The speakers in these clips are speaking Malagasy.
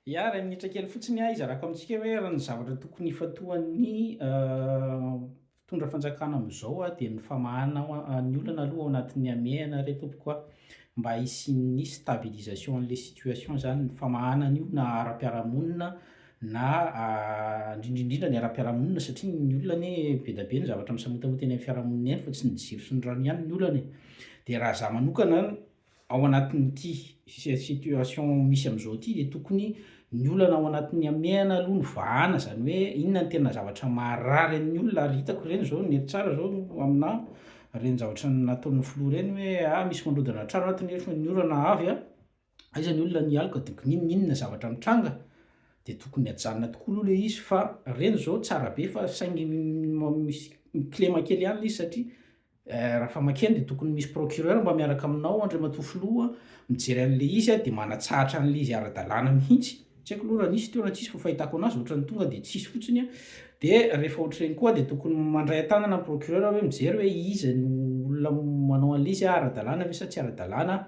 Ya, iray minitra kely fotsiny aho hizarako amintsika hoe raha ny zavatra tokony hifantohan'ny mpitondra fanjakana amin'izao a dia ny famahana ny olana aloha ao anatin'ny hamehana re tompoko a mba hisian'ny stabilisation an'ilay situation izany ny famahana an'io na ara-piarahamonina na indrindraindrindra ny ara-piarahamonina satria ny olona anie be dia be ny zavatra misamotamota eny amin'ny fiarahamonina eny fa tsy ny jiro sy ny rano ihany ny olana e dia raha za manokana Ao anatin'ity situation misy amin'izao ity dia tokony ny olana ao anatin'ny hamehana aloha no vahana, izany hoe inona no tena zavatra maharary amin'ny olona ary hitako ireny izao nety tsara izao aminà ireny zavatra nataon'ny filoha ireny hoe ah misy mandrodana trano ato nefa ny orana avy a, aiza ny olona ny aloka dia gninninona zavatra mitranga, dia tokony hajanona tokoa aloha ilay izy fa ireny izao tsara be fa saingy misy mi-klema kely ihany ilay izy satria Eh, Rafamakian dia tokony misy procureur mba miaraka aminao Andriamatoa Filoha mijery an'ilay izy a, dia manatsahatra an'ilay izy ara-dalàna mihitsy, tsy haiko aloha raha nisy teo na tsisy fa fahitako anazy ohatran'ny tonga dia tsisy fotsiny a, dia rehefa ohatr'ireny koa dia tokony mandray an-tanana ny procureur hoe mijery hoe iza no olona manao an'ilay izy a, ara-dalàna ve sa tsy ara-dalàna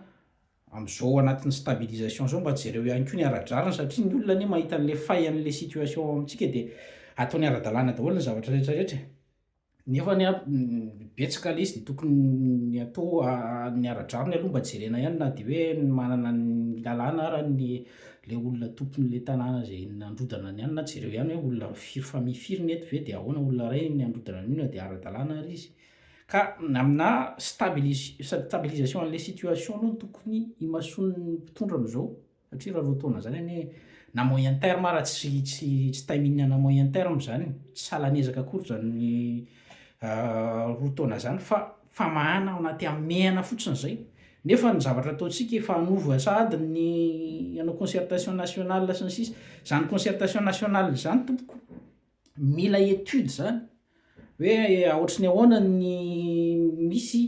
amin'izao anatin'ny stabilisation izao, mba jereo ihany koa ny ara-drariny satria ny olona anie mahita an'ilay fay an'ilay situation ao amintsika dia ataony ara-dalàna daholo ny zavatra rehetra rehetra e. Nefa ny betsaka le izy de tokony ny atao ny ara-drariny aloha mba jerena ihany na de hoe manana ny lalàna ara ny le olona tompon'le tanàna zay nandrodana ny anona jereo ihany hoe olona firy famille firy ny eto ve de ahoana olona ray ny androdana ny olona de ara-dalàna ary izy ka aminà stabilis- stabilisation an'le situation aloha no tokony imasoan'ny mpitondra am'zao. Satria raha roa taona izany anie na moyen terme ara tsy tsy tsy timing ana moyen terme izany, tsy salan'ny ezaka akory izany roa taona izany fa famahana ao anaty hamehana fotsiny izay. Nefa ny zavatra ataontsika efa hanova sahady ny hanao concertation nationale sy ny sisa. Izany concertation nationale izany tompoko mila étude izany hoe aohatry ny ahoana ny misy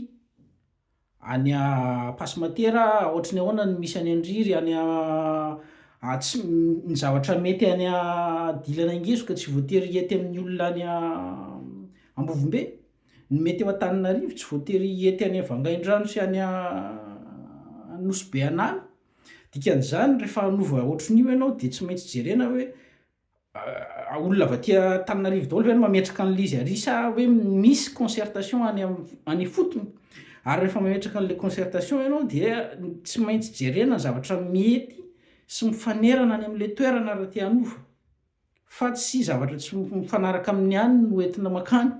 Any a pasimatera aotry ny ahoana ny misy any an driry any a a tsy ny zavatra mety any a dilana ingezoka tsy voatery hiety amin ny olona any a ambovombe ny mety eo antaninarivo tsy voatery hiety any a vangaindrano sy any a nosy be anala dikan izany rehefa hanova aotry ny io ianao dia tsy maintsy jerena hoe olona avy aty Antananarivo daholo ve no mametraka an'ilay izy ary sa hoe misy concertation any any ifotony? Ary rehefa mametraka an'ilay concertation ianao dia tsy maintsy jerena ny zavatra mety sy mifanerana any amin'ilay toerana raha te hanova fa tsy zavatra tsy mifanaraka amin'ny any no entina mankany,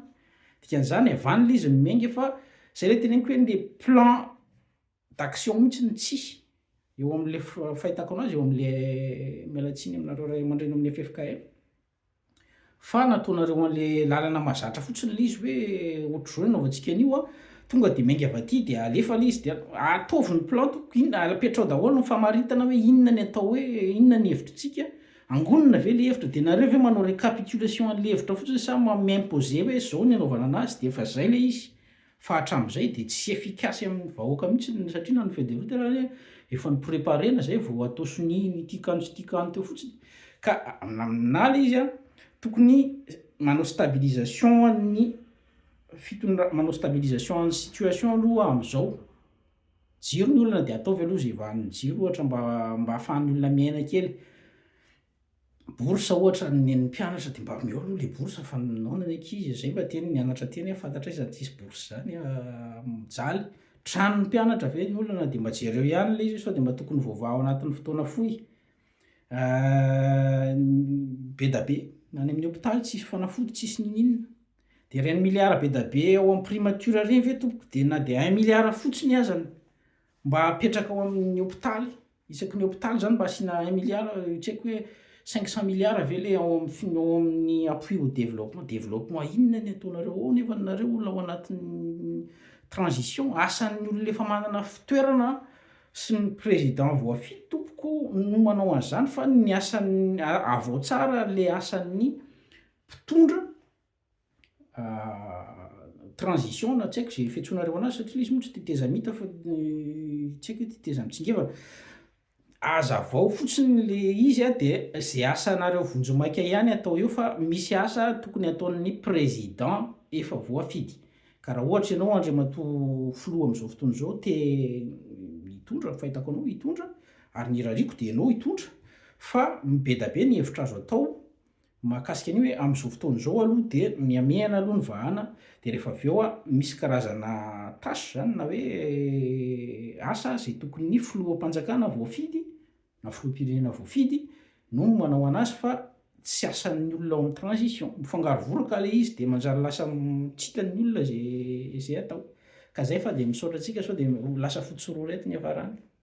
dikan'izany avy any ilay izy no miainga fa zay ilay teneniko hoe le plan d'action mihitsy no tsisy eo amin'ilay fahitako anazy eo amin'ilay miala tsiny aminareo ray aman-dreny amin'ny ffkm fa nataonareo an'ilay lalana mazatra fotsiny ilay izy hoe ohatr'izao no nanaovantsika an'io an, tonga dia miainga avy aty dia alefa ilay izy dia ataovy ny plan tompoko inona apetraho daholo ny famaritana hoe inona ny atao hoe inona ny hevitritsika angonina ve ilay hevitra dia nareo ve manao recapitulation an'ilay hevitra fotsiny sa mi-imposer hoe izao ny anaovana an'azy dia efa izay ilay izy Fa hatramin'izay dia tsy efficace amin'ny vahoaka mihitsy ny satria na ny feuille de route ary anie efa nopreparena izay vao atao sonia ny ity kano sy ity kano teo fotsiny ka amin'aminà ilay izy a tokony manao stabilisation an'ny fitondra manao stabilisation an'ny situation aloha amin'izao jiro ny olona dia ataovy aloha izay vahan'ny jiro ohatra mba mba ahafahan'ny olona miaina kely bourse ohatra ny an'ny mpianatra dia mba omeo aloha ilay bourse fa naona ny ankizy izay mba tiany mianatra teny fantatray izany tsisy bourse izany mijaly tranon'ny mpianatra ve ny olana dia mba jereo ihany ilay izy sao dia mba tokony voavaha ao anatin'ny fotoana fohy ah, bedabe any amin'ny hopitaly tsisy fanafody tsisy nininina dia ireny milliard bedabe ao amin'ny primature ireny ve tompoko dia na dia un milliard fotsiny azany mba apetraka ao amin'ny hopitaly Isaky ny hopitaly zany mba asiana un milliard io tsy haiko hoe cinq cent milliards ve le ao amin'ny ao amin'ny appui au développement, développement inona ny ataonareo ao nefa nareo olona ao anatin'ny transition, asan'ny olona efa manana fitoerana sy ny président voafidy tompoko no manao an'izany fa ny asan'ny, avao tsara le asan'ny mpitondra. transition na tsy haiko izay fiantsoanareo anazy satria ilay izy moa tsy tetezamita fa tsy haiko hoe tetezamitsingevana azavao fotsiny le izy a de zay asanareo vonjimaika ihany atao eo fa misy asa tokony ataon'ny président efa voafidy ka raha ohatra ianao andriamatoa filoha amin'izao fotoana izao te hitondra ny fahitako anao hitondra ary ny irariako de ianao hitondra fa mibedabe ny hevitra azo atao Mahakasika an'io hoe amin'izao fotoana izao aloha dia mihamehana aloha ny vahana dia rehefa avy eo a misy karazana tâche izany na hoe asa izay tokony ny filoham-panjakana voafidy na filoham-pirenena voafidy no manao an'azy fa tsy asan'ny olona ao amin'ny transition. Mifangaro vola ka ilay izy dia manjary lasa tsy hitan'ny olona izay izay atao. Ka izay fa dia misaotra antsika sao dia ho lasa fotsy sy roa ireto ny hiafarany.